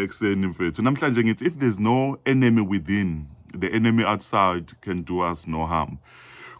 ekuseni mfethu namhlanje ngithi if there's no enemy within the enemy outside can do us no harm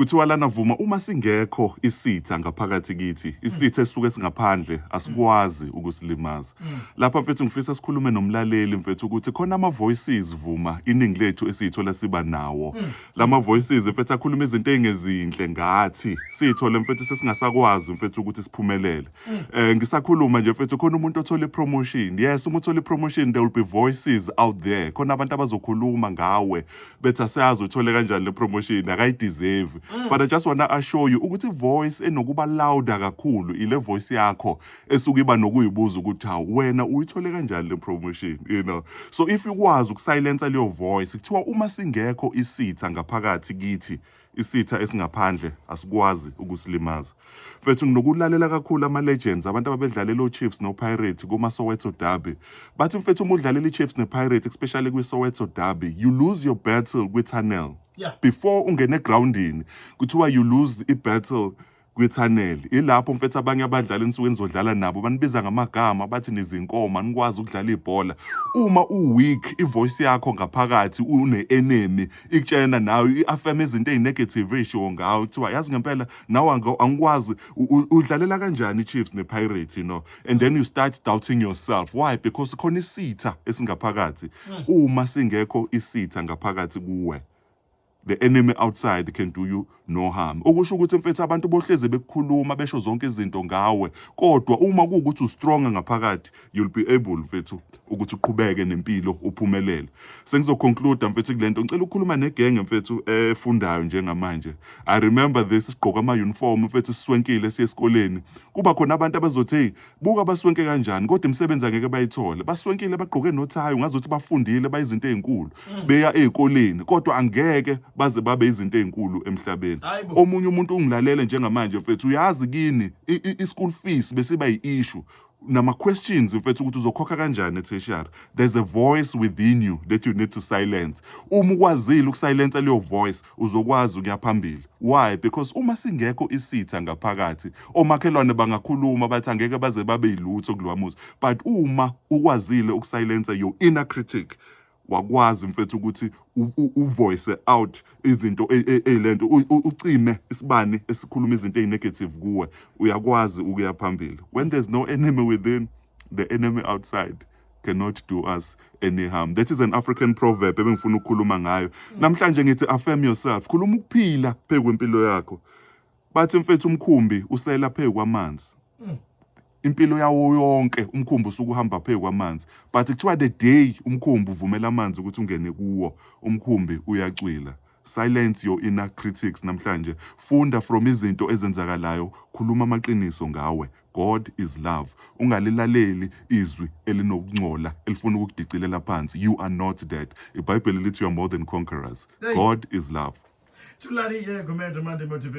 kuthiwa lana vuma uma singekho isitha ngaphakathi kithi isitha esisuke singaphandle asikwazi ukusilimaza lapha mfethu ngifisa sikhulume nomlaleli mfethu ukuthi khona ama voices vuma iningi lethu esiyithola siba nawo lama voices mfethu akhuluma izinto ezingezinhle ngathi siyithole mfethu sesingasakwazi mfethu ukuthi siphumelele Eh ngisakhuluma nje mfethu khona umuntu othole promotion. Yes, uma uthole promotion there will be voices out there. Khona abantu abazokhuluma ngawe bethi asiyazi uthole kanjani le promotion akayideserve. Mm. But I just wanna assure you ukuthi voice enokuba louder kakhulu ile voice yakho esuke iba nokuyibuza ukuthi ha wena uyithole kanjani le promotion, you know. So if ukwazi ukusilencer leyo voice kuthiwa uma singekho isitha ngaphakathi kithi isitha esingaphandle asikwazi ukusilimaza mfethu nginokulalela kakhulu ama-legends abantu ababedlalela o-chiefs no-pirates kuma-soweto derby bathi mfethu uma udlalela i-chiefs ne-pirates especially kwi-soweto derby you lose your battle kwi-tunnel yeah. before ungene egrawundini kuthiwa you lose i-battle kwithaneli ilapho mfethu abanye abadlali enisuke nizodlala nabo banibiza ngamagama bathi nizinkoma nikwazi ukudlala ibhola uma uweak ivoice yakho ngaphakathi une-enemy ikutshena nayo i-affirm izinto eyi-negative eyishiwo ngawo kuthiwa yazi ngempela nawe angikwazi udlalela kanjani i-chiefs ne-pirate you know and then you start doubting yourself why because khona isitha esingaphakathi hmm. uma singekho isitha ngaphakathi kuwe The enemy outside can do you no harm. Okusho ukuthi mfethu abantu bohleze bekukhuluma besho zonke izinto ngawe kodwa uma kuwukuthi ustrong ngaphakathi you'll be able mfethu ukuthi uqhubeke nempilo uphumelele. Sengizoconclude mfethu kulento ngicela ukukhuluma negenge mfethu efundayo njengamanje. I remember this sigqoka ama uniform mfethu siswenkile siye esikoleni. Kuba khona abantu abazothi hey buka baswenke kanjani kodwa imisebenzi angeke bayithole baswenkile bagqoke nothayi ungazothi bafundile bayizinto ezinkulu mm. beya ezikoleni kodwa angeke baze babe izinto ezinkulu emhlabeni omunye umuntu ungilalele njengamanje mfethu uyazi kini i-school fees besiba yi-issue nama-questions mfethu ukuthi uzokhokha kanjani etheshari there's a voice within you that you need to silence uma ukwazile ukusilensa leyo voice uzokwazi ukuya phambili Why? Because uma singekho isitha ngaphakathi, omakhelwane bangakhuluma bathi angeke baze babe yilutho kulowa muzi. But uma ukwazile ukusilencer your inner critic, wakwazi mfethu ukuthi u- u- uvoice out izinto e- e- eyilento u- u- ucime isibani esikhuluma izinto ezinegative kuwe uyakwazi ukuya phambili when there's no enemy within the enemy outside cannot do us any harm that is an african proverb ebengifuna ukukhuluma ngayo mm. namhlanje ngithi affirm yourself khuluma ukuphila phezu kwempilo yakho bathi mfethu umkhumbi usela phezu kwamanzi mm. impilo yawo yonke umkhumbi usukuhamba phezu kwamanzi but kuthiwa the day umkhumbi uvumela amanzi ukuthi ungene kuwo umkhumbi uyacwila Silence your inner critics namhlanje. Funda from izinto ezenzakalayo, khuluma amaqiniso ngawe. God is love. Ungalilaleli izwi elinokungcola elifuna ukukudicilela phansi. You are not dead. IBhayibheli lithi you are more than conquerors. God is love. Tulani yego mende mande motivate.